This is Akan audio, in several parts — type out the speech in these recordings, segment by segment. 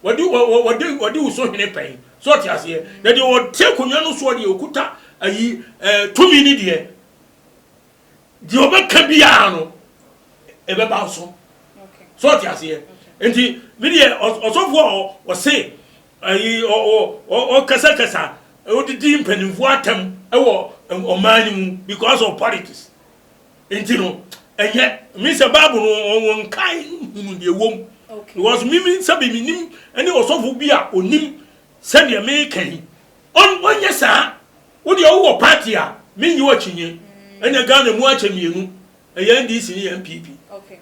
Wɔde wɔ, wɔ, wɔde, wɔde wo so hene pɛn. So ɔte aseɛ? Na deɛ ɔte akonnwa no soɔ deɛ ɔkuta ayi ɛɛ tumi ne deɛ. Deɛ ɔbɛka biara no, ɛbɛba wo so. So ɔte aseɛ? Nti, me deɛ, ɔs, ɔsɔfoɔ a ɔ, ɔse, ayi, ɔ, ɔ, ɔ, ɔkasakasa, ɔdidi mpanimfoɔ atɛm wɔ ɔman no mu because of politics. Nti no, ɛnyɛ me sɛ Bible no wɔn wɔn nkae hunu deɛ ɛwɔ mu. Because mimi sɛ bi menim ɛne ɔsɔfo bi a onim sɛdeɛ meka yi. Ɔn ɔnyɛ saa. Wo deɛ wowɔ party a menyi wo akyinnye. Mm. Ɛnna Ghana mu akyɛ mmienu. Ɛyɛ NDC ne yɛ NPP. Okay.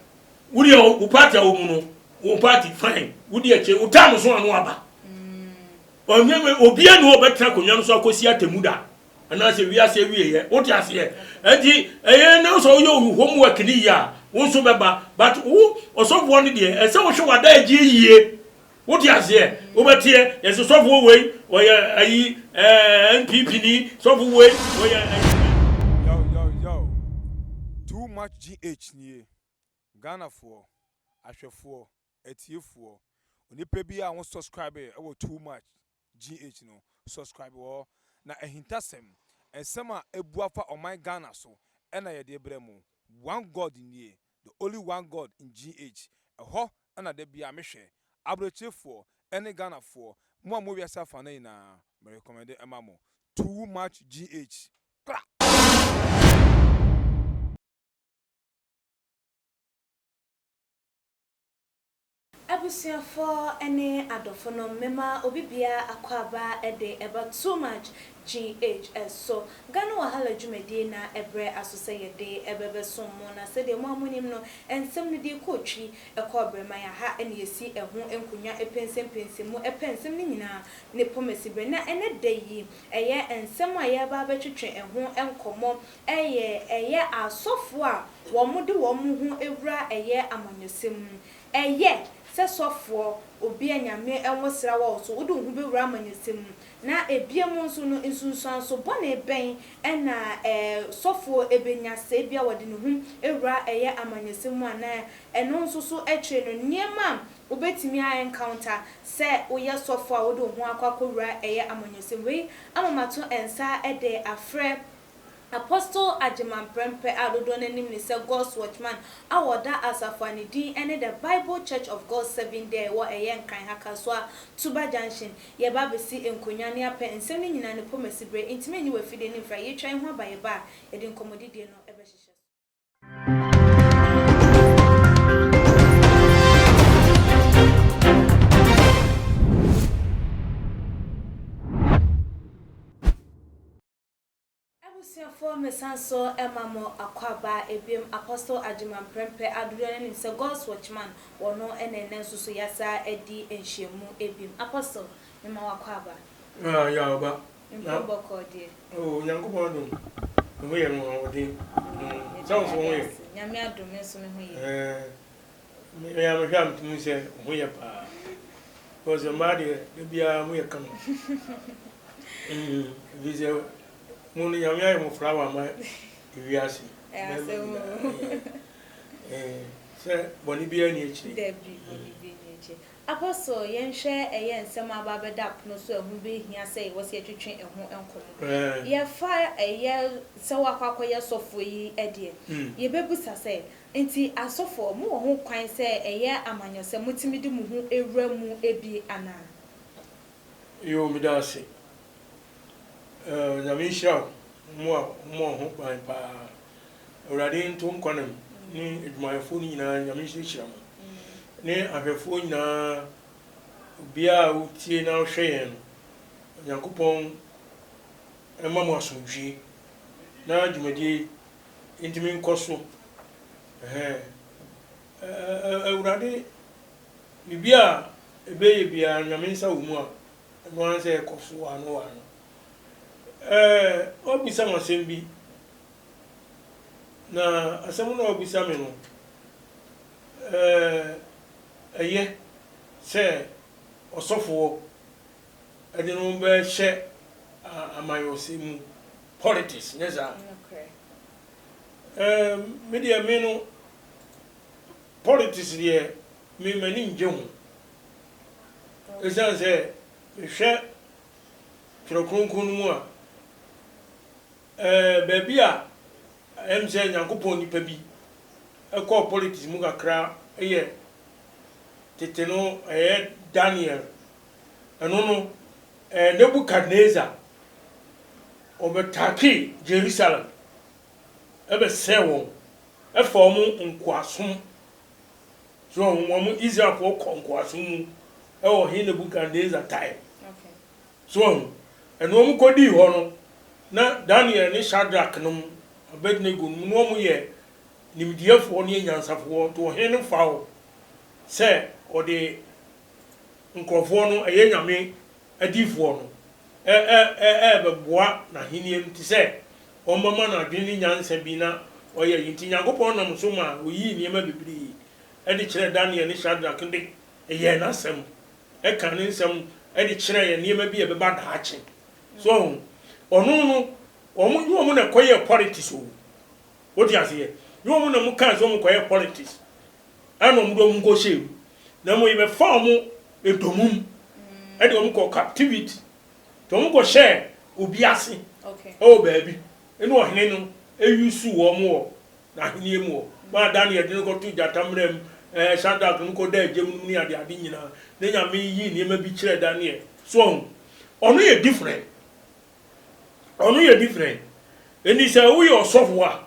Wo deɛ wo party a wo mu no wo party fine. Wo deɛ kyɛ wo tam so ano aba. Mm. Ɔnyɛ obiara ne ɔbɛtena akonnwa no so akɔsi atemu da. Anaasɛ wiase awieɛ, wote aseɛ? Ɛnti ɛyɛ na wosɛ woyɛ wo homework no yie a, wo nso bɛba. But wo ɔsɔfoɔ no deɛ, ɛsɛ wohwɛ w'adagyeɛ yie. Wote aseɛ? Wobɛteɛ, yɛse sɔfoɔ wei, ɔyɛ ayi, ɛɛ, NPP ni, sɔfo wei, ɔyɛ ayi ni. Yo yo yo, too much GH nie, Ghanafoɔ, ahwɛfoɔ, Atiefoɔ, Onipa bi a wo subscribe wɔ too much GH no subscribe hɔ na ahintasɛm, nsɛm a ɛbu afa ɔman Ghana so na yɛde brɛ mo. One God nie, the only one God in GH, ɛhɔ na da biara me hwɛ. Abrɛkyirefɔɔ ɛne Ghanafoɔ, mo a mo wɔ wiase afa no nyinaa, me recommende ɛma mo. Too much GH. Kra! Abusuafo ne adɔfo nom mema obi biara akwaaba de ɛba too much GH so. Ghana Wahala dwumadie na ɛbrɛ aso sɛ yɛde ɛbɛbɛsom mo na sɛdeɛ mo a monim no nsɛm no deɛ kɔɔ twi ɛkɔɔ abrɛman aha na yɛsi ɛho nkonwa ɛpɛnsɛmpɛnsɛ mu ɛpɛ nsɛm no nyinaa ne pɔmasiberɛ na ɛnɛ da yi ɛyɛ nsɛm a yɛreba abɛtwetwe ɛho nkɔmmɔ Ɛyɛ ɛyɛ asɔfoɔ a wɔde wɔn mo ho awura ɛyɛ amanyɔsɛm mu. Ɛyɛ, sɛ sɔfoɔ, obi a Nyame nwosra wɔ wo so, wode wo ho bɛwura amanyɔsɛm mu? Na ɛbiom nso no, nsunsuanso bɔne bɛn na ɛɛ sɔfoɔ bɛnya sɛ ebia wɔde ne ho awura ɛyɛ amanyɔsɛm mu anaa ɛno nso so akyire no nneɛma a wobɛtumi a encounter sɛ woyɛ sɔfoɔ a wode wo ho akɔ akɔwura ɛyɛ amanyɔsɛm mu? Wei ama mato nsa de afrɛ Apostle Agyemang Prempeh a dodoɔ no ara nim no sɛ God's Watchman a ɔda asafo a ne din ne The Bible Church of God Seventh Day a ɛwɔ ɛyɛ Nkran ha Kasoa Tuba Junction yɛba abɛsi nkonnwa ne apɛ nsɛm no nyinaa no pomasi berɛ enti mɛnyi w'afidie no mfra yɛtwa yi ho aba yɛba a yɛde nkɔmmɔdidie no bɛhyehyɛ so. Abusuafoɔ mesan so ma mo akwaaba biom Apostle Agyemang Prempeh a dodoɔ no ara nim sɛ God's Watchman wɔ no na ɛnnɛ nso so yɛasan adi nhyiamu biom Apostle mema wo akwaaba. Ah ya ɔba na Mpom bɔkɔɔ deɛ. Oh Onyankopɔn adom me ho yɛ me ho ahoɔden mm Sɛ wo nso wo ho yɛ? Nyame adom me nso me ho yɛ. Eh. Me a mehwɛ a metum hu sɛ wo ho yɛ paa because mmaa deɛ da biara mo yɛ kama ɛfiri sɛ mo no Nyame ayɛ mo flower ama ewiase sɛ bɔne biara ni akyire. Apostle yɛnhwɛ ɛyɛ nsɛm a aba abɛda pono so a ɛho bɛhia sɛ yɛwɔ sɛ yɛtwetwe ɛho nkɔmmɔ. Yɛfa ɛyɛ sɛ woakɔ akɔyɛ sɔfoɔ yi deɛ, yɛbɛbisa sɛ, Enti asɔfoɔ, mowɔ ho kwan sɛ ɛyɛ amanyɔ sɛ motumi de mo ho wura mu bi anaa? Yoo meda ase eh Onyame nhyira wo mo a mowɔ ho kwan paa Awurade nto nkɔnam ne adwumayɛfoɔ no nyinaa Nyame nso nhyira mo ne ahwɛfoɔ nyinaa obiara a wotie na wohwɛ yɛn no Onyankopɔn mma mo asomdwie na dwumadie yi Entumi nkɔ so. Ɛɛɛɛɛ Awurade, biribi a ɛbɛyɛ biara, Nyame nsa wɔ mu a, ɛno ara ne sɛ ɛkɔ so waa no waa no. Ɛɛ, wɔabisa me asɛm bi, na asɛm no a wɔabisa me no, ɛɛ, ɛyɛ sɛ ɔsɔfoɔ. ɛde no bɛhyɛ amanyɔsɛm mu, politics, nyɛ saa? Ɛɛ, me deɛ me no, politics deɛ me m'ani ngye ho. Ɛsiane sɛ mehwɛ Twerɛ Kronkron no mu a, ɛɛ baabi a ɛyɛ me sɛ Nyankopɔn nipa bi ɛkɔɔ politics mu kakra yɛ tete no ɛyɛ Daniel Ɛno no, ɛyɛ Nebukadnesar. Wɔbɛtakee Yerusalem, bɛsɛee wɔn, faa wɔn nkoasom. So wɔn Israelfoɔ kɔ nkoasom mu wɔ Ɔhene Nebukadnesar time. So wɔn, ɛno wɔn kɔdii hɔ no, na Daniel ne Shadrach nom, Abednego nom, na wɔn yɛ nimdeɛfoɔ ne anyansafoɔ, nti ɔhene no faa wɔn sɛ ɔde nkorɔfoɔ no, ɛyɛ Nyame adiyifoɔ no, ɛɛbɛboa N'Ahennie no te sɛ wɔbɛma no adwene ne nyansa bi na wɔayɛ ayi. Nti Nyankopɔn nam so maa wɔyii nneɛma bebree de kyerɛɛ Daniel ne Shadrach de yɛɛ N'Asɛm, ɛkaa Ne nsɛm de kyerɛɛ yɛn nneɛma bi a ɛbɛba daakye. So wɔahu? Ɔno no, wɔn, nyɛ wɔn na ɛkɔyɛɛ politics o. Wote aseɛ? Nyɛ wɔn na wɔkaa sɛ wɔkɔyɛɛ politics. ɛna wɔn de wɔn kɔ hyɛɛ mu na mmom yɛbɛfa wɔn ntomum ɛde wɔn kɔ captivity nti wɔn kɔ hyɛɛ obi ase ɛwɔ baabi ɛna ɔhene no ɛyusu wɔn wɔ n'ahenni mu wɔ maa Daniel de no kɔto gyata mmerɛ mu ɛɛ Shadrach no kɔda agya mu ne ade ade nyinaa ne nyame yi nneɛma bi kyerɛ Daniel so ɔho ɔno yɛ different ɔno yɛ different ɛni sɛ woyɛ ɔsɔfo a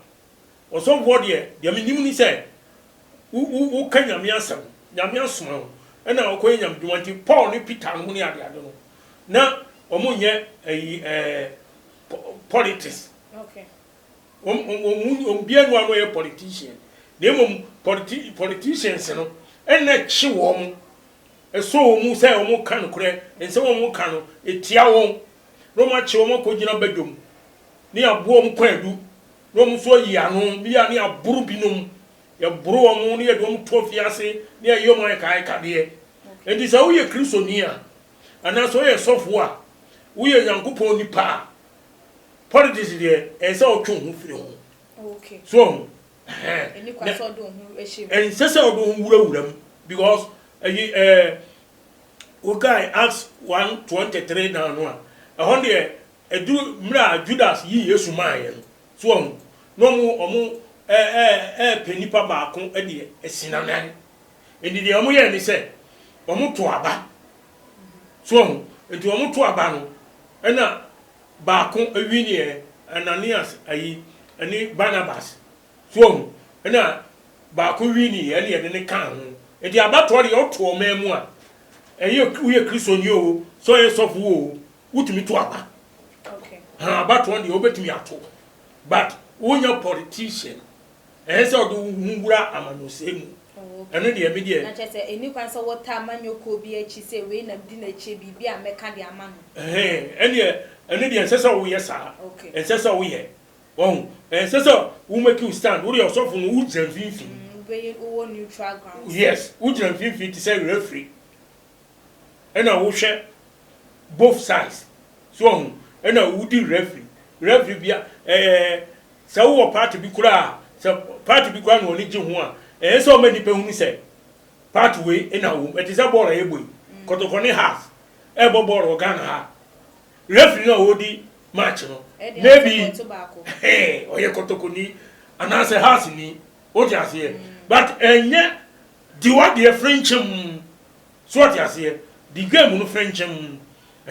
Ɔsomfoɔ deɛ, deɛ menim ne sɛ, wo, wo, woka Nyame asɛm, Nyame asoma wo, ɛna wokɔyɛ Nyame dwuma, nti Paul ne Peter nom ne adeade no, na wɔn nyɛ ayi ɛɛ, po, politics. Okay. Wɔn, wɔn, wɔn mu, wɔn biara nni hɔ a na ɔyɛ politician, na mmom politi, politicians no, ɛna kye wɔn, ɛsɔ wɔn mu sɛ wɔn ka nokorɛ, nsɛm a wɔn ka no, ɛtia wɔn, na wɔn akye wɔn akɔgyina badwam. ne aboɔm kwaadu na wɔn nso ayi ano, bi a ne yɛaboro binom, yɛboro wɔn na yɛde wɔn to afiase na yɛyɛ wɔn ayɛkaayɛkadeɛ. Enti sɛ woyɛ Kristoni a, anaasɛ woyɛ sɔfoɔ a, woyɛ Nyankopɔn nipa a, politics deɛ, ɛsɛ sɛ wotwe wo ho firi ho. So woahu? Ɛhɛn. Ɛnsɛ sɛ wode wo ho wurawura mu because ɛyi ɛɛ wokae Acts one twenty three down no a, ɛhɔ deɛ Ɛduru mmerɛ a Judas yii Yesu maeɛ no, so wahu? Na wɔn repɛ nipa baako de asi n'anan. Enti deɛ wɔyɛɛ ne sɛ, wɔtoo aba. So wahu? Enti wɔtoo aba no, ɛna baako winieɛ, Ananias ayi, ɛne Barnabas. So wahu? Ɛna baako winieɛ, ɛne yɛde no kaa ho. Enti abatoɔ deɛ woto ɔman mu a, ɛyɛ woyɛ Kristoni oo, sɛ woyɛ sɔfo oo, wotumi to aba ha abatoɔ deɛ wobɛtumi ato but wonya politician ɛyɛ sɛ ɔde wo ho wura amanyɔsɛm mu ɛno deɛ me deɛ. na kyerɛ sɛ ɛni kwan sɛ wɔtaa amanyɔkuo bi akyi sɛ wei na medi n'akyire biribi a mɛka de ama no. ɛneɛ ɛno deɛ ɛnsɛ sɛ woyɛ saa ɛnsɛ sɛ woyɛ wahu ɛnsɛ sɛ wo make wo stand wodeɛ ɔsɔfo no wogyina mfimfini wobɛyɛ wowɔ neutral ground yes wogyina mfimfini te sɛ referee ɛna wohwɛ both sides so ɔho ɛna wodi refri refri bia ɛɛ sɛ wowɔ party bi koraa sɛ party bi koraa na ɔne gye ho a ɛɛ sɛ ɔma nipa hunu sɛ party wei ɛna wom ɛte sɛ bɔɔl a yɛbɔ yi kɔtɔkɔ ne has ɛbɔ bɔɔl wɔ Ghana ha refri no a ɔdi match no maybe ɔyɛ kɔtɔkɔ ni anaasɛ has ni wote aseɛ but ɛnyɛ dewa deɛ frenkyem So ɔte aseɛ? Di game no fɛnkyɛm.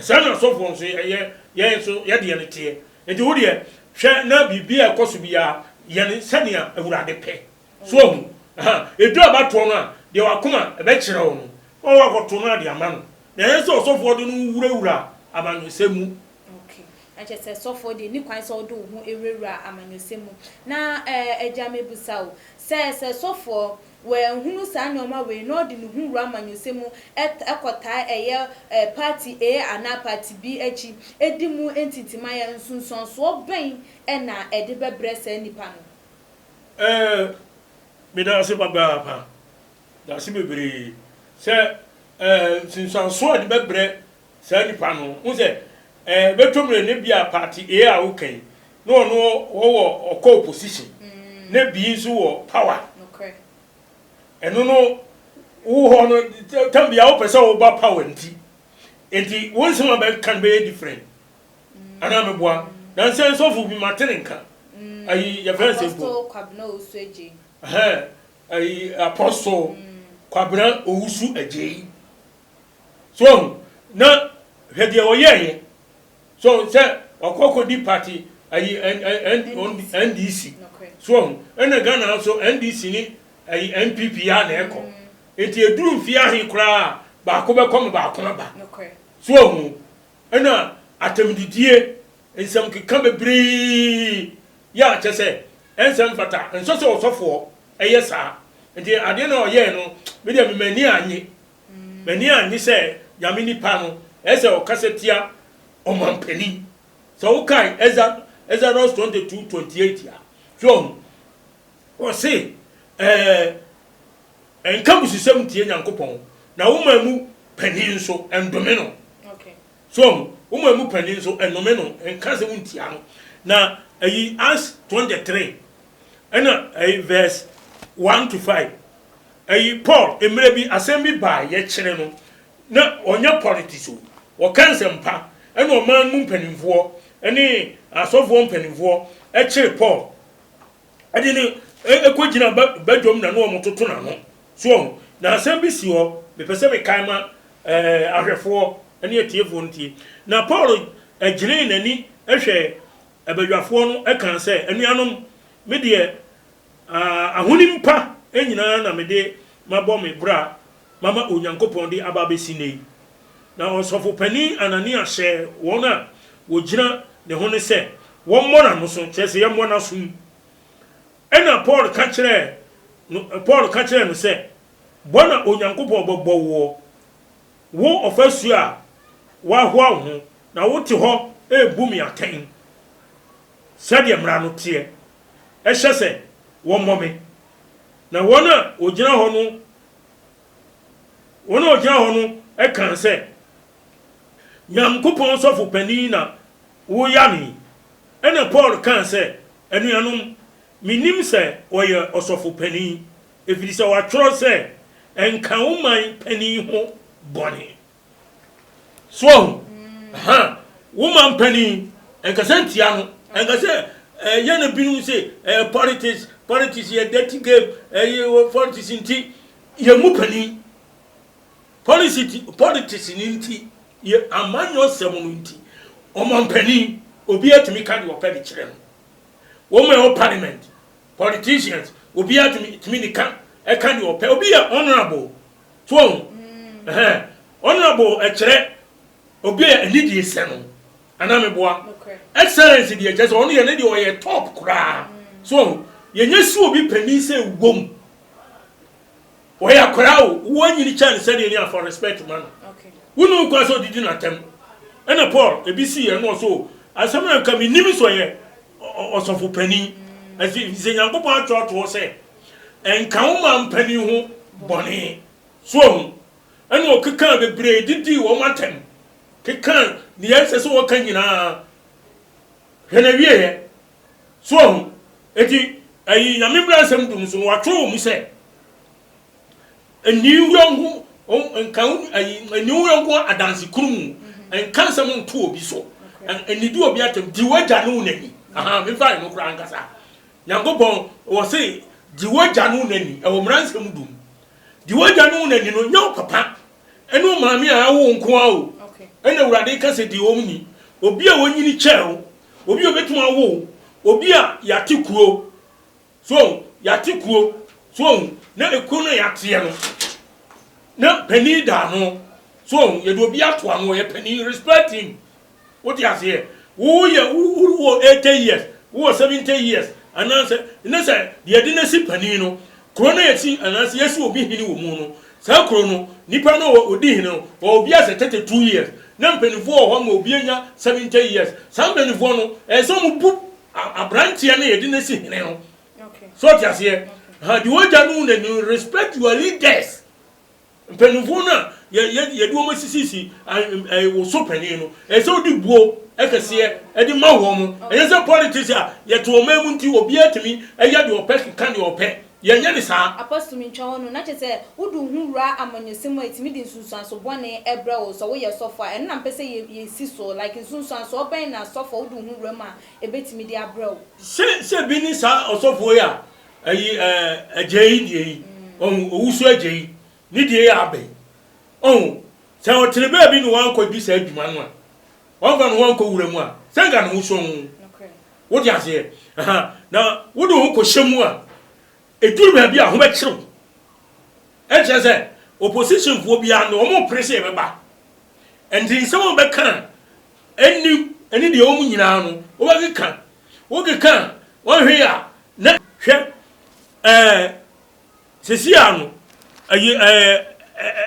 Saa na asɔfoɔ nso yɛ, yɛn nso yɛ deɛ no teɛ. Enti wo deɛ, hwɛ na biribi a ɛkɔ so biara, yɛ no sɛdeɛ Awurade pɛ. So wahu? Aha, ɛduru abatoɔ no a, deɛ w'akoma bɛkyerɛ wo no, na woakɔto no ade ama no, na ɛnyɛ sɛ ɔsɔfoɔ de no wurawura amanyɔsɛm mu. Ok, na kyerɛ sɛ sɔfoɔ deɛ nni kwan sɛ wode wo ho wurawura amanyɔsɛm mu. Na ɛɛ, agya, mebisa wo, sɛ, sɛ sɔfoɔ wanhunu saa nnoɔma wei na ɔde ne ho wura amanyɔsɛm mu kɔ taa ɛyɛ party A anaa party B akyi di mu ntintimaeɛ nsunsuansoɔ bɛn na ɛde bɛbrɛ saa nipa no? Ɛɛ meda ase papaapa dase bebree sɛ ɛɛ nsunsuansoɔ a ɛde bɛbrɛ saa nipa no ho sɛ ɛɛ bɛtɔ mu dɛ ebia party A a woka yi na ɔno ɔwɔ ɔkɔ opposition na bii nso wɔ power. Ɛno no wo hɔ no tam biara wopɛ sɛ woba power nti nti wo nsɛm a bɛka no bɛyɛ different anaa meboa nansɛ nsɔfo bi mate ne nka ayi yɛfrɛ nsɛ mpo ɛhɛn ayi apostle Kwabena Owusu Agyei So wahu? Na hwɛ deɛ ɔyɛeɛ. So sɛ wakɔ akɔdi party ayi NDC. So wahu? Ɛna Ghana ha nso NDC ne ayi NPP ara na ɛkɔ. Nti ɛduru mfeɛ ahe koraa a baako bɛkɔ ma baako aba. So wahu? Ɛna atɛmdidie, nsɛmkeka bebree. Yɛ a kyerɛ sɛ ɛnsɛ mfata. Ɛnsɛ sɛ ɔsɔfoɔ yɛ saa. Nti adeɛ no a ɔyɛeɛ no, me deɛ mema ani annye. M'ani annye sɛ Nyame nipa no ɛsɛ ɔkasa tia ɔmanpanin. Sɛ wo kae Exodus 22, 28 a, so wahu? Ɔse ɛɛ Ɛnka abususɛm ntie Nyankopɔn, na wo man mu panin nso ɛndome no. So wahu? Wo man mu panin nso ɛnnome no, ɛnka asɛm ntia no. Na ayi Acts 23. Ɛna ɛyi verse one to five ɛyi Paul mmerɛ bi asɛm bi baa yɛkyerɛ no na ɔnyɛ politics o ɔka nsɛmpa ɛna ɔman mu mpanimfoɔ ɛne asɔfoɔ mpanimfoɔ ɛkyere Paul ɛde no ɛkɔ gyina badwam na no ɔmo toto n'ano so ɔho na asɛm bi si hɔ mepɛ sɛ mekae ma ɛɛ ahwɛfoɔ ɛne atiefoɔ no tie na Paul ɛgyinee n'ani ɛhwɛ badwafoɔ no kaa sɛ, Anuanom, me deɛ, ahonim pa nyina ara na mede mabɔ me bra mama Onyankopɔn de aba abɛsi nnɛ yi. Na ɔsɔfo panin Anania hyɛɛ wɔn a wɔgyina ne ho no sɛ wɔmmɔ n'ano so, kyerɛ sɛ, yɛmmɔ n'aso mu. Ɛnna Paul ka kyerɛɛ no, Paul ka kyerɛɛ no sɛ, Bɔ na Onyankopɔn bɛbɔ woɔ. Wo ɔfasu a woahoa wo ho, na wote hɔ rebu me atɛn sɛdeɛ mmara no teɛ. Hyɛ sɛ wɔmmɔ me, na wɔn a wɔgyina hɔ no wɔn a wɔgyina hɔ no kaa sɛ, Nyankopɔn sɔfo panin na woya no yi? Ɛnna Paul kaa sɛ, Anuanom, mennim sɛ ɔyɛ ɔsɔfo panin. Ɛfiri sɛ wɔatwerɛ sɛ, Nka wo man panin ho bɔne. So wahu? Ɛhã. Wo man panin, nkasa ntia no. Nka sɛ, eh, yɛn na binom se, eh, politics, politics yɛ dirty game, eh, yɛ wɔ politics nti, yɛn mu panin. Policy ti, politics no nti, yɛ amanyɔsɛm no nti, ɔman panin, obiara tumi ka deɛ ɔpɛ de kyerɛ no. Wɔn a ɛwɔ parliament, Politicians obiara tumi tumi ne ka ɛka deɛ ɔpɛ obi yɛ honourable so wɔn ɛhɛn honourable ɛkyerɛ obi yɛ ɛni deɛ sɛ no anaa mi boa excellence deɛ kyerɛ sɛ ɔno yɛ ne deɛ ɔyɛ top koraa so wɔn yɛ nyɛ si obi panin sɛ wɔm. Ɔyɛ akwadaa o, wonyini kyɛn sɛdeɛ ni a fa respect ma no. Wonni ho kwan sɛ ɔdidi n'atɛm. Ɛna Paul, ebi sii yɛ na ɔsɛ o, asɛm no nka mennim sɛ ɔyɛ ɔsɔfo panin. Ɛfi sɛ Nyankopɔn atwerɛ ato hɔ sɛ, Nka wo man panin ho bɔne. So wahu? Ɛna ɔkekaa bebree didii wɔn atɛm, kekaa deɛ ɛnsɛ sɛ wɔka nyinaa. Hwɛ n'awieeɛ. So wahu? Enti, ayi, Nyame mmaransɛm du no so no, wɔatwerɛ wɔ mu sɛ, Nni wo yɔnko, nka wo, ayi, nni wo yɔnko adanse kunu mu, nka nsɛm nto obi so, nnidi obi atɛm, gye w'agya ne wo na ni. Aha, memfa ɛno koraa nkasa. Nyankopɔn, wɔse, gye w'agya ne wo na ni, ɛwɔ mmaransɛm du mu. Gye w'agya ne wo na ni no, nyɛ wo papa, Ɛne omaame a awo wo nko ara o, ɛna Awurade ka sɛ deɛ ɔm ni, obi a ɔnyini kyɛɛ wo, obi a ɔbɛtumi awo wo, obi a yɛate kuro, so ɔhu, yɛate kuro, so ɔhu, na ɛkuro no a yɛateɛ no, na panin da ano, so ɔhu, yɛde obi ato ano, ɔyɛ panin, respect him. Wo te aseɛ? Wo yɛ wo wo wɔ eighty years, wo wɔ seventy years, anaa sɛ ne sɛ deɛ yɛde no asi panin no, kuro no a yɛsi anaa sɛ yɛsi obi hene wɔ mu no, saa kuro no, nipa no a ɔdi hene no, ɔwɔ bi a sɛ thirty two years, na mpaninfoɔ wɔ hɔ ma obi anya seventy years, saa mpaninfoɔ no, ɛsɛ sɛ wɔn bu a abranteɛ no a yɛde no asi hene no. So wo te aseɛ? Aha, deɛ ɔgya no wu no, respect your leaders. Mpanyimfo no a yɛde wɔn asisisi wo so panyin no, ɛsɛ sɛ wode buo kɛseɛ de ma wɔn. Ɛnyɛ sɛ politics a yɛte ɔman mu nti obiara tumi yɛ deɛ ɔpɛ keka deɛ ɔpɛ. Yɛnyɛ no saa. Apostle tumi ntwa wɔn no, na kyerɛ sɛ wode wo ho wura amanyɔsɛm mu a ɛtumi de nsunsuanso bɔne brɛ wo. Sɛ woyɛ sɔfo a, ɛno na mepɛ sɛ yɛsi so. Like nsunsuansoɔ bɛn na sɔfo a wode wo ho wura mu a ɛbɛtumi de abrɛ wo? Sɛ sɛ bi ne saa ɔsɔfoɔ yi a Ayi eh, agya yi deɛ yi, ɔhu, owu so agya yi, ne deɛ yi aba yi. Ɔhu, sɛ ɔtene baabi na wankɔ di saa adwuma no a, wamfa ne ho ankɔ wura mu a, sɛ nka ne ho sɔ ho. Wote aseɛ? Aha, na wode ho kɔhyɛ mu a, ɛduru baabi a, ho bɛkyere wo. Ɛkyerɛ sɛ, oppositionfoɔ biara no, wɔn mpere sɛ yɛbɛba. Ɛnti nsɛm a wɔbɛka a, ɛnni, ɛne deɛ wɔn nyinaa no, wobɛkeka Wokeka a, wɔnhwɛ yɛ a, na. Hwɛ ɛɛ, seesei ara no, ayi ɛɛ,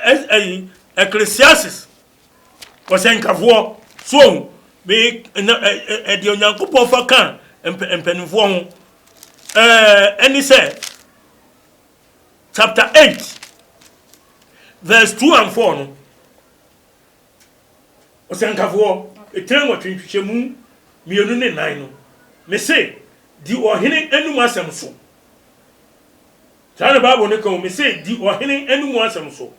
ɛɛ, ayi, Ecclesiastes, ɔsɛnkafoɔ, so ohu, me, na, ɛɛ, deɛ Onyankopɔn fa ka mpa, mpanimfoɔ ho, ɛɛ, ɛne sɛ, chapter 8, verse 2 and 4 no. Ɔsɛnkafoɔ, tire nwɔtwe nkyekyɛmu mmienu ne nan no, mese, di ɔhene anom asɛm so. Saa na Bible no ka o, mese, di ɔhene anom asɛm so.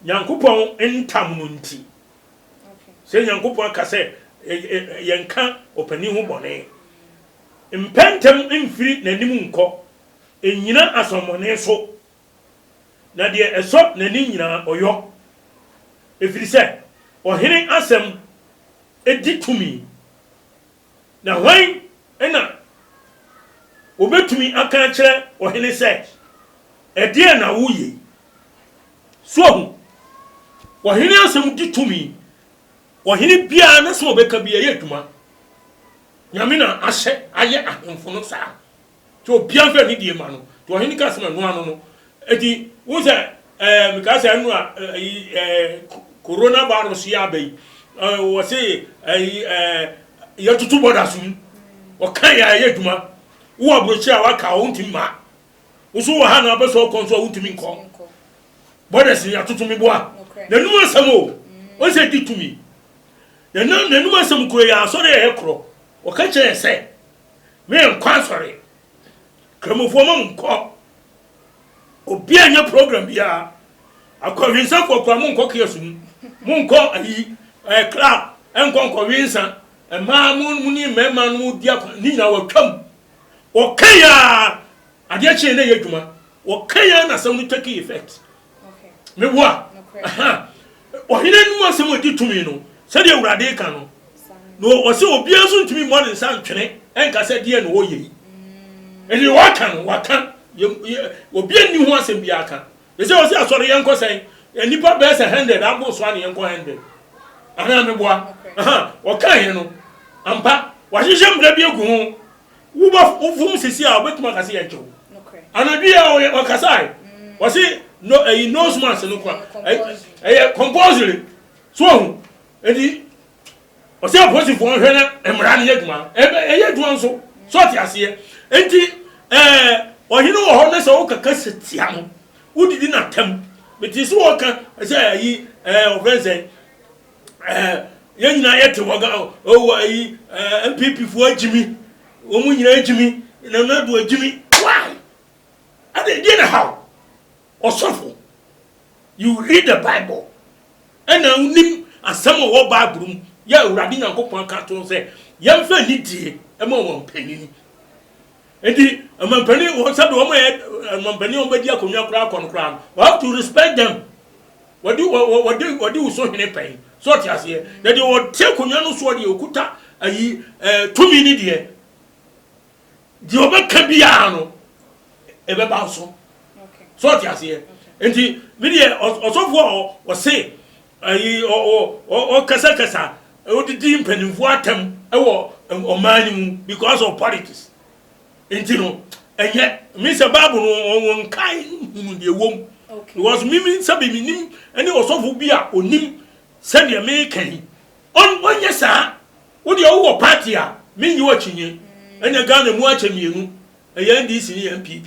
Nyankopɔn ntam no nti. Sɛ Nyankopɔn aka sɛ yɛnka ɔpanin ho bɔne, mpɛ ntɛm mfiri n'anim nkɔ, nnyina asɔmmɔne so na deɛ ɛsɔ n'ani nyinaa ɔyɔ, ɛfiri sɛ ɔhene asɛm di tumi. Na hwan na ɔbɛtumi aka akyerɛ ɔhene sɛ, Ɛdeɛn na woyɛ yi? So wahu? Ɔhene asɛm di tumi. Ɔhene biara n'asɛm a ɔbɛka biara, ɛyɛ adwuma. Nyame na ahyɛ ayɛ ahemfo no saa. Nti obiara mfa ne deɛ mma no. Nti ɔhene kaa sɛ, Mɛnoa no no. Nti wohu sɛ ɛɛ mekaa sɛ ɛnoa ɛyi ɛɛ Corona virus yi aba yi, ɛɛ wɔse ɛyi ɛɛ yɛtoto borders mu. Wɔka yɛ a ɛyɛ adwuma. Wowɔ aburokyire a waka a wontumi mma. Wo nso wowɔ ha na wobɛsɛ wokɔ nso a wontumi nkɔ. Borders no yɛatoto me boa. N'anum asɛm o. Wohu sɛ ɛdi tumi. N'anum asɛm kuro yɛ asɔre a ɛyɛ korɔ. Wɔka kyerɛ yɛ sɛ Me nkɔ asɔre. Kramofoɔ ma mo nkɔ. Obia nyɛ program biaa. Akɔwensafoɔ koraa mo nkɔ kiosk mu. Mo nkɔ ayi ɛɛ club nkɔ nkɔwensa. Mmaa mo mo ne mmarima no mo di akɔ ne nyinaa watwam. Ɔka yi aa adeɛ kye yɛ na ɛyɛ adwuma. Ɔka yi aa na asɛm no take effect. Meboa. Ɔhene anom asɛm a ɛdi tumi no, sɛdeɛ Awurade reka no, na ɔsɛ obiara nso ntumi mmɔ ne nsa ntwene nka sɛ deɛ na ɔyɛ yi. Ɛdeɛ waka no, waka. Obiara nni ho asɛm biara ka. Ɛsɛ ɔsɛ asɔre yɛn nkɔ sɛn? Nnipa bɛyɛ sɛ hundred abo so a na yɛn nkɔ hundred. Anaa meboa. Ɔka yɛn no, ampa, wahyehyɛ mmara bi agu ho Wo ba foforo sisi a obetumi aka sɛ yɛnkyɛ wo. Anadwo yi a ɔyɛ ɔkasae. Wɔsi no ɛyi nose mask no kwa. Ɛyɛ compulsory. So ohu. Enti ɔsɛ apolisifoɔ nhwɛ na mmara no yɛ adwuma. Ɛyɛ adwuma nso. So ɔte aseɛ. Enti ɛɛ ɔhene wɔ hɔ na sɛ woka kasa tia no wodidi no atɛm. Metee sɛ wɔka sɛ ɛyi ɛɛ ɔfrɛ sɛ. Eh, yɛn nyinaa yɛte wɔ ga oh, ayi eh, npp foɔ agyimi wɔn nyinaa agyimi nana ado agyimi why ade deɛ na how ɔsɔfo you read the bible ɛna wonim asɛm a ɛwɔ bible mu yɛ awurade nyankopɔn aka to sɛ yɛmfa anidie ma wɔn mpanini Enti ɔmampanin wɔ sɛbi wɔn yɛ ɔmampanin wɔn bɛdi akonnwa koraa kɔ no koraa no you have to respect them wɔde wɔde wɔde wuso hene pɛn so ɔte aseɛ na deɛ ɔte akonnwa no soɔ deɛ ɔkuta ayi ɛɛ tumi ne deɛ deɛ ɔbɛka biara no ɛbɛba so so ɔte aseɛ nti mi deɛ ɔsɔfoɔ ɔse Ayi ɔ ɔ ɔ ɔkasakasa odidi mpanimfoɔ atɛm wɔ ɔman no mu because of politics nti no ɛnyɛ me sɛ bible no ɔ ɔ nkae hunu deɛ ɛwɔ mu because me me sɛ bi menim ɛne ɔsɔfo bi a ɔnim sɛdeɛ meka yi ɔn ɔnyɛ saa wo deɛ wowɔ party a mennye w'akyinnye ɛnyɛ Ghana mu akyɛ mmienu ɛyɛ NDC ne NPP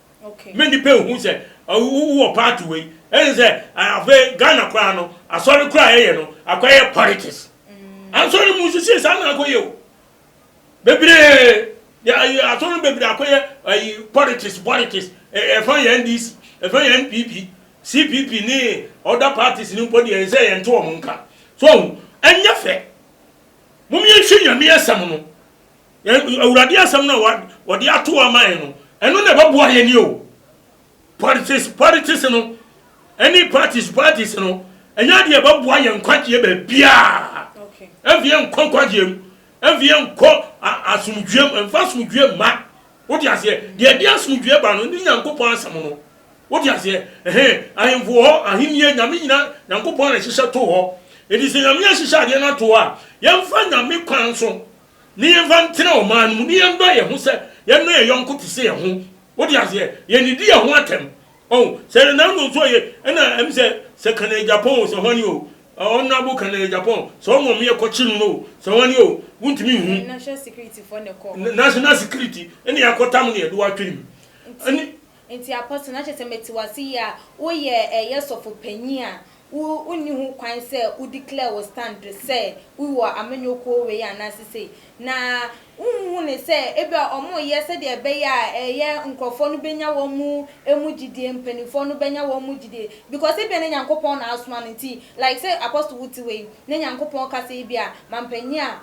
Me nnipa nhu sɛ wowɔ party wei ɛne sɛ afei Ghana koraa no asɔre koraa yɛyɛ no akɔyɛ politics ansɔre mu nso sei saa na akɔyɛ o bebree asɔre bebree akɔyɛ ayi politics politics ɛfa yɛ NDC ɛfa yɛ NPP CPP ne other parties ne mpo deɛ sɛ yɛnte wɔn nka so ɛnyɛ fɛ mom yɛnhwɛ nyame asɛm no Yɛn Awurade asɛm no a wɔde ato hɔ ama yɛn no, ɛno na ɛbɛboa yɛn ni o. Politics, politics no, ɛne parties, parties no, ɛnyɛ adeɛ ɛbɛboa yɛn nkwagyeɛ baabiaa. Ɛmfi yɛn nkɔ nkwagyeɛ mu, ɛmfi yɛn nkɔ asomdwoeɛ mu, ɛmfa asomdwoeɛ mma. Wode aseɛ, deɛ ɛde asomdwoeɛ ba no ne Nyankopɔn asɛm no. Wode aseɛ, ɛhɛ, ahemfo hɔ, ahennie, Nyame nyina, Nyankopɔn na ɛhyehyɛ to hɔ. Ɛti sɛ Nyame ahyehyɛ adeɛ no ato hɔ a, yɛmfa Nyame kwan so na yɛmfa ntena ɔman no mu, na yɛnnɔ yɛn ho sɛ yɛnnɔ yɛn yɔnko te sɛ yɛn ho. Wote aseɛ? Yɛnnidi yɛn ho atɛm. Ɔho, sɛ Renaldo nso ɔyɛ, ɛna ɛm sɛ, sɛ ka no yɛ Japan o, sɛ hwane o, Honourable ka no yɛ Japan o, sɛ ɔno ɔmeyɛ kɔkye no no o, sɛ hwane o, wontumi nhu. National security foɔ na ɛkɔɔ hɔ. National security na yɛakɔtam no yɛde wo atwene mu. Nti, Enti Apostle, na kyerɛ sɛ mete wo ase yie a woyɛ ɛyɛ sɔfo panyin a wo wonni ho kwan sɛ wo declare wo stand sɛ wo wɔ amanyɔ kuo wei anaa sesei. Na wo nhu no sɛ ebi a wɔn yɛ sɛdeɛ ɛbɛyɛ a ɛyɛ nkorɔfoɔ no bɛnya wɔn mu ɛmu gyidie, mpaninfoɔ no bɛnya wɔn mu gyidie because ebi a na Nyankopɔn na asoma no nti like sɛ Apostle wo te hɔ yi na Nyankopɔn ka sɛ ebi a ma mpanyin a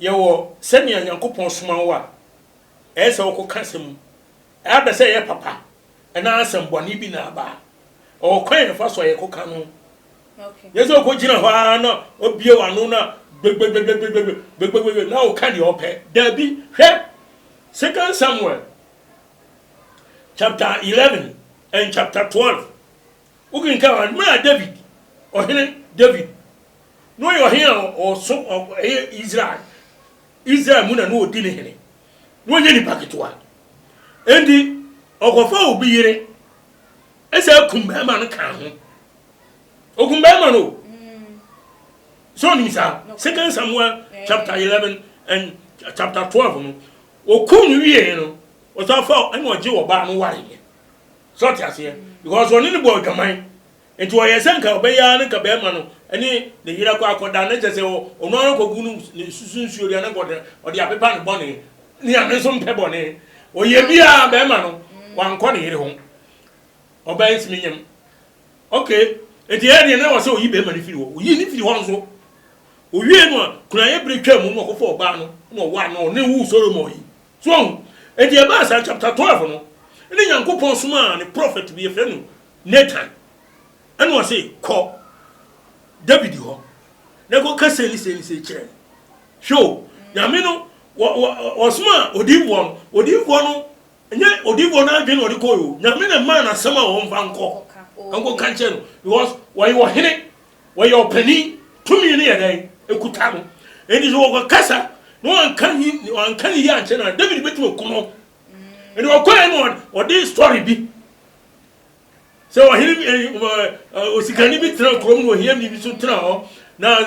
Yɛwɔ sɛnea Nyankopɔn soma wo a ɛyɛ sɛ wokɔka asɛm mu. Ɛaba sɛ ɛyɛ papa anaa asɛmmɔne bi na aba a, ɛwɔ kwan a yɛfa so a yɛkɔka no. Ɛnyɛ sɛ wokɔgyina hɔ ara na wabue w'ano na gbegbegbegbegbegbegbegbegbe na woka deɛ wopɛ. Dabi, hwɛ Second Samuel chapter eleven and chapter twelve. Wokenkan a, mmerɛ a David, Ɔhene David, na ɔyɛ ɔhene a ɔso ɛyɛ Israel, Israel mu na na ɔdi ne hene, na ɔnyɛ nipa ketewa. Enti ɔkɔfa obi yere, ɛsɛ akum bɛrima no kaa ho. Ɔkum bɛrima no o. So nim saa? Second Samuel chapter 11 and chapter 12 no, ɔkum no wie no, ɔsan fa ɛna ɔgye ɔbaa no wareɛ. So ɔte aseɛ? Because ɔne no bɔɔ adwaman. Nti ɔyɛɛ sɛ nka ɔbɛyɛ ara ne nka bɛɛma no ne ne yerɛ kɔ akɔda na kyɛsɛ ɔno ara kɔgu no ne susu nsuo deɛ na nka ɔde ɔde apepa ne bɔne. Nyame nso mpɛ bɔne. Ɔyɛ biara bɛɛma no wankɔ ne yere ho. Ɔbaa yi ntumi nyam. Okay. Nti ɛyɛ deɛ na wɔ sɛ ɔyi bɛɛma no firi hɔ. Ɔyi ne firi hɔ nso. Ɔwie no a, kunaeɛ berɛ twaa mu na ɔkɔfa ɔbaa no na ɔwaa no ɔne woo Solomon yi. So woahu? Enti ɛbaa saa, chapter twelve no, ɛnna Nyankopɔn somaa ne prophet bi, yɛfrɛ no Nathan, ɛnna ɔse, Kɔ David hɔ, na kɔka sei ne sei ne sei kyerɛ no. Hwɛ o, Nyame no, wɔ, wɔ, ɔsomaa odiyifoɔ no, odiyifoɔ no, ɛnyɛ odiyifoɔ no adwene na ɔde kɔe o, Nyame na ɛmaa no asɛm a ɔmfa nkɔ, Ɔka, oo. nkɔka nkyerɛ no, because ɔyɛ ɔhene, Wɔyɛ ɔpanin, tumi no yɛ dɛn? Ɛkuta no. Enti sɛ wɔkɔkasa na wanka ne wanka ne yie ankyerɛ no a, David bɛtumi aku no. Enti ɔkɔɛ no ɔde story bi sɛ ɔhene osikani bi tena kurom na ohiani bi so tena hɔ na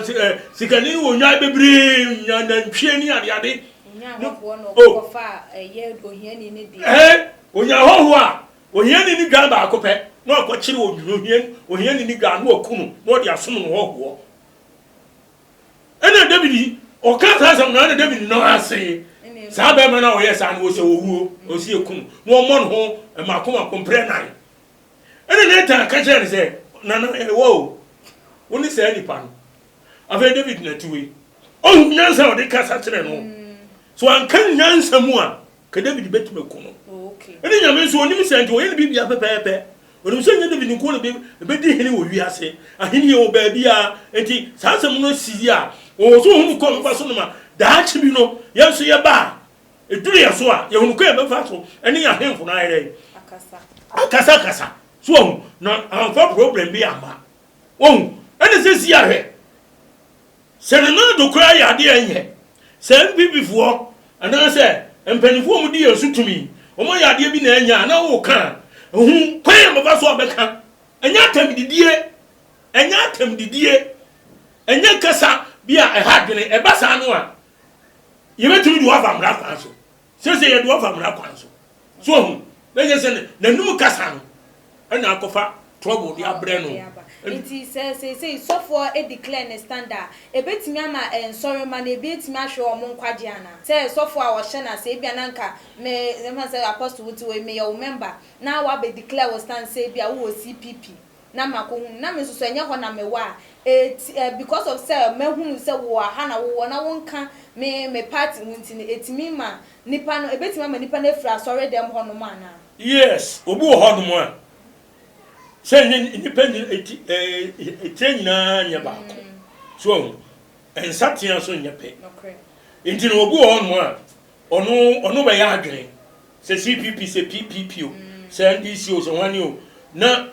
sikani no wɔ nnwan bebree nya nantwie ne adeade onya hɔhoɔ a Ohiani no dwan baako pɛ na ɔkɔkyere odwunohia, ohiani no dwan na waku no na ɔde asom no hɔhoɔ. Ɛna David ɔka saa asɛm no ɛna David no ase saa bɛrima no a ɔyɛ saa no ɔsɛ ɔwuo ɔsi ɛku no na ɔmmɔ no ho mmaako mmaako mprɛ nan. Ɛna Nathan ka kyerɛ no sɛ nana ɛwɔ o wo ne saa nipa no afei David na ti wei ɔhu nyansa a ɔde kasa kyerɛ no so anka nyansa mu a Ka David betumi aku no. Ɛnna Nyame nso, onim sɛ nti wɔyɛ no biribiara pɛpɛɛpɛ. Onim sɛ ɛnyɛ David nko na obedi hene wɔ wiase ahenni wɔ baabiara. Enti saa asɛm no si yi a, ɔwɔ so hu no kwan a ɔbɛfa so no ma daakye bi no, yɛn nso yɛba a, eduru yɛn so a, yɛahu no kwan a yɛbɛfa so ne yɛn ahemfo no ayɛ dɛn? Akasakasa. So wahu? Na wamfa problem bi amma. Wahu? Ɛnna sɛ si ara hwɛ. Sɛ ne nan do koraa yɛ ade a ɛnyɛ. Sɛ NPP foɔ anaa sɛ mpaninfoɔ a wɔdi yɛn so tumi, wɔayɛ adeɛ bi na ɛnyɛ a, na woka a, hu kwan a bɛfa so a bɛka. Ɛnyɛ atɛmdidie, ɛnyɛ atɛmdidie, ɛnyɛ kasa bi a ɛha adwene. Ɛba saa no a, yɛbɛtumi de wo aba mmara kwan so. Seesei yɛde wɔn fa mmara kwan so. So wahu? Na ɛnyɛ sɛ n'anum kasa no ɛna akɔfa trouble de abrɛ no. Nti sɛ seesei sɔfoɔ declare ne stand a, ɛbɛtumi ama nsɔremma no ebi atumi ahwere wɔn nkwagyeɛ anaa? Sɛ sɔfoɔ a wɔhyɛ no ase, ebia na anka me, yɛmfa no sɛ Apostle wote hɔ yi, meyɛ wo member na woabɛ declare wo stand sɛ ebia wowɔ CPP. na makɔhu no, na me nso so ɛnyɛ hɔ na mewɔ a, eti eh, because of sɛ mahunu sɛ wowɔ ha na wowɔ na wonka me me party ho nti no, ɛtumi ma nnipa no, ɛbɛtumi ama nnipa no afiri asɔredɛm hɔnom anaa? Yes, obi wɔ hɔnom a, sɛ ɛnyɛ nnipa nyina, eti eh, etire nyinaa nyɛ baako. So wahu? Nsatea nso nyɛ pɛ. Nti no, obi wɔ hɔnom a, ɔno, ɔno bɛyɛ adwene. Sɛ CPP, sɛ PPP o, sɛ NDC o, sɛ hwane o, na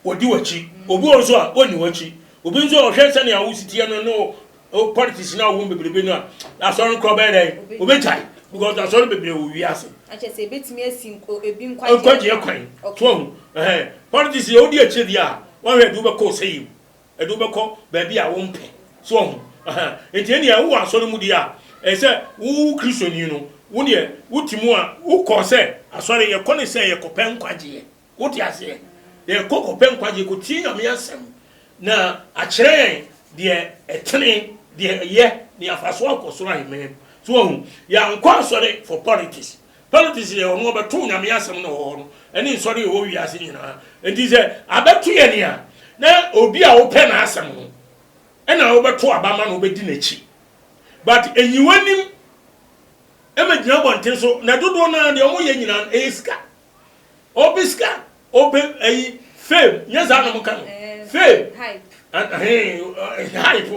wɔdi w'akyi. Obi wɔ hɔ nso a, ɔnni w'akyi. Obi nso a, ɔhwɛ sɛnea wo si teɛ no ne wo wo politics no a wowɔ mu bebrebe no a, Asɔre no koraa ɔbɛyɛ dɛn? Ɔbɛgyae. Because Asɔre bebree wɔ wiase. Kyerɛ sɛ, ɛbɛtumi asi nk ebi nkwagyeɛ kwan. Nkwagyeɛ kwan. So ahu? Ɛhɛn. Politics deɛ, wodi akyire deɛ a, woahwɛ deɛ wobɛkɔ ɔsɛeɛ mu. ɛde wo bɛkɔ baabi a wompɛ. So wahu? Aha. Enti ɛnneɛ wowɔ asɔre mu deɛ a, ɛyɛ sɛ wo Kristoni no, wo deɛ wote mu a, wokɔ sɛ asɔre, yɛkɔ ne sɛ yɛkɔpɛ nkwagyeɛ. Wote aseɛ? Yɛkɔ kɔpɛ nkwagyeɛ, kɔtie Nyame asɛm, na akyerɛ yɛn deɛ ɛtene, deɛ ɛyɛ, ne yɛafa so akɔ soro aheman mu. So wahu? Yɛankɔ asɔre for politics. Politics yɛ wɔn wɔbɛtow Nyame asɛm no wɔ hɔ no ɛne nsɔre a ɛwɔ wiase nyinaa nti sɛ abɛto yɛn a na obi a wopɛ n'asɛm no ɛna wobɛto aba ma no wobɛdi n'akyi but ɛnyi w'anim ɛma gyina abɔnten so na dodoɔ no ara deɛ wɔyɛ nyinaa no ɛyɛ sika Ope sika ope ayi fame nyɛ saa na ɔmo ka no fame ɛhɛn hype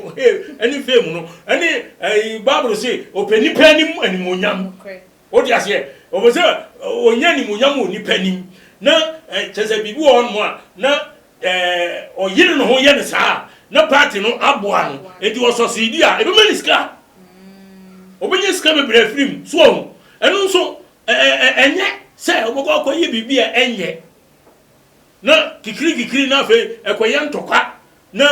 ɛne fame no ɛne ɛyi bible se ɔpɛ nipa anim animonyam o de aseɛ ɔpɛ sɛ ɔnya animonyam wɔ nipa anim na kyɛ sɛ biribi wɔ hɔnom a na ɔyere ne ho yɛ ne saa na party no aboa no eti ɔsɔsidi a ebɛma ne sika ɔbɛnya sika bebree afiri mu so ɔho ɛno nso Ɛnyɛ sɛ wɔbɛkɔ akɔyɛ biribi a ɛnyɛ, na kikirikikiri na afei ɛkɔyɛ ntɔkwa, na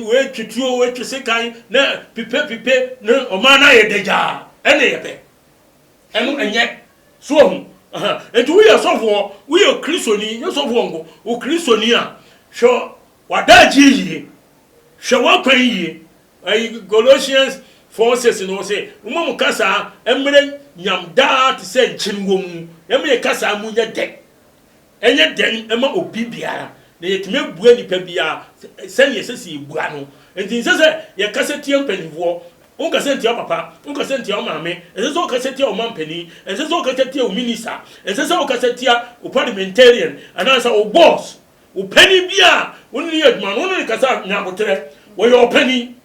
wɔatwi tuo, wɔatwi sekan, na pipepipe, na ɔman no ayɛ dagyaa. Ɛne yɛ pɛ. Ɛno ɛnyɛ. So wahu? Aha. Enti woyɛ sɔfoɔ, woyɛ Kristoni, nyɛ sɔfoɔ nko, wo Kristoni a, hwɛ w'adagyeɛ yie, hwɛ w'akwan yie, Ɛyi Colossians four six no ɔsɛ moma mo kasaa ɛmmerɛ nyam daa te sɛ nkyen wɔ mu ɛma yɛ kasaa mu nyɛ dɛ ɛnyɛ dɛn ɛma obi biara na yɛ tumi abua nipa biara sɛnea ɛsɛ sɛ yɛ bua no nti nsɛ sɛ yɛ kasa tia mpaninfoɔ wo kasa ntia wo papa wo kasa ntia wo maame ɛnsɛ sɛ wo kasa tia wo ma mpanin ɛnsɛ sɛ wo kasa tia wo minister ɛnsɛ sɛ wo kasa tia wo parliamentarian anaasɛ wo boss Wo panin bi a wo ne no yɛ adwuma no, wo ne no kasa nya aboterɛ. Wɔyɛ wo panin,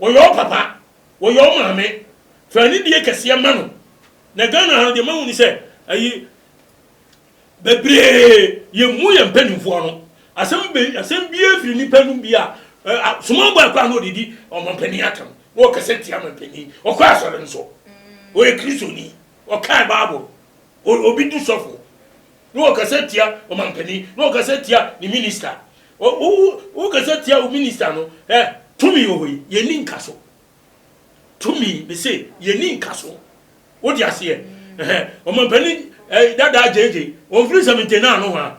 wɔyɛ wo papa, wɔyɛ wo maame. Fa anidie kɛseɛ ma no. Na Ghana ha no, deɛ mahu ne sɛ, ayi, bebree yɛmmu yɛn mpanimfoɔ no. Asɛm bi, asɛm biara firi nnipa anom bi a, small boy koraa na ɔdedi ɔmampanin atɛm, na ɔkasa tia ɔmampanin. Ɔkɔ asɔre nso, ɔyɛ Kristoni, ɔkae Bible, obi di sɔfo. Na ɔkasa tia ɔmanpanin, na ɔkasa tia ne minista. Wo, wo, wo, wokasa tia wo minista no, ɛ, tumi wɔ hɔ yi, yɛnni nkaso. Tumi, mese, yɛnni nkaso. Wode aseɛ? Ɛhɛn, ɔmanpanin ɛ, dadaa JJ, ɔmfiri 79 nohoa.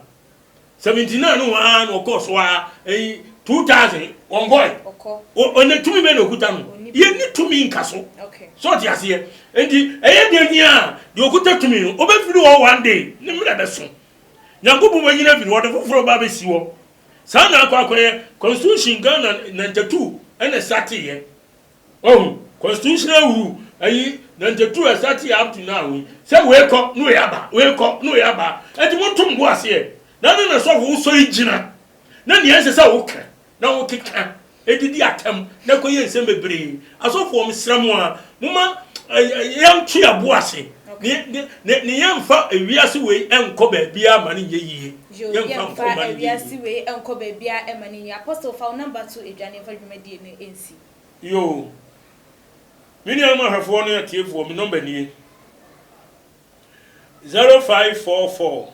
79 nohoa ara na ɔkɔɔ so ara, ɛyi, 2000, ɔnkɔɔe. Ɔkɔ. Ɔ, ɔ, ɛnnɛ, tumi bɛn na ɔkuta no? Ɔnni tumi. Yɛnni tumi nkaso. Okay. So wote aseɛ? Enti ɛyɛ deɛ hia a, deɛ ɔkuta tumi no, ɔbɛfiri hɔ one day, ne mmerɛ bɛso. Nyankopɔn bɛnyini afiri hɔ, de foforɔ aba abɛsi hɔ. Saa na akɔ akɔyɛ. Constitution Ghana ninety two na ɛstarteeɛ. Wahu? Constitutional rule, ayi, ninety two a ɛstarteeɛ up to now yi, sɛ wei kɔ na wei aba, wei kɔ na wei aba. Enti monto mo bo aseɛ. Dane na sɔfo, wosɔre gyina, na deɛ ɛsɛ sɛ woka, Na wɔkeka didi atɛm na ɛkɔyɛ nsɛm bebree. Asɔfoɔ, mesrɛ mo ara, momma yɛnto yɛn bo ase na yɛmfa wiase wei nkɔ baabiara mma no nyɛ yie. Yiw, yɛmfa wiase wei nkɔ baabiara mma no nyɛ yie. Apostle, fa wo namba to dwa na yɛmfa dwumadie no nsi. Yoo. Me nuanom ahwɛfoɔ ne atiefoɔ, me nɔmba nie, 0544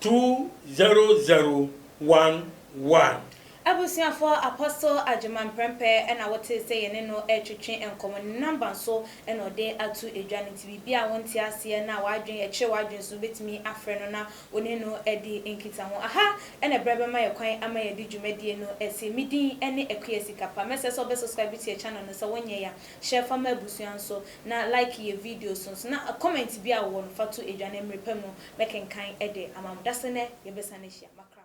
two zero zero one one. Abusuafoɔ Apostle Agyemang Prempeh na wote sɛ yɛne no retwetwe nkɔmmɔ. Ne number nso na ɔde ato edwa no nti biribi a wonte aseɛ na w'adwene ɛkyere w'adwene so no wobɛtumi afrɛ no na wo ne no adi nkitaho. Aha na ɛberɛ bɛma yɛ kwan ama yɛde dwumadie no asie. Me din ne Akua Sikapa. Mɛsrɛ sɛ wobɛsubscribe to yɛ channel no, sɛ wonyɛɛ a hyɛ fa ma abusua nso na like yɛ videos nso na comment biara a wowɔ no fa to edwa na mmere pa mu bɛkenkan de ama mo. Dase nnɛ yɛbɛsan ahyia. Makram.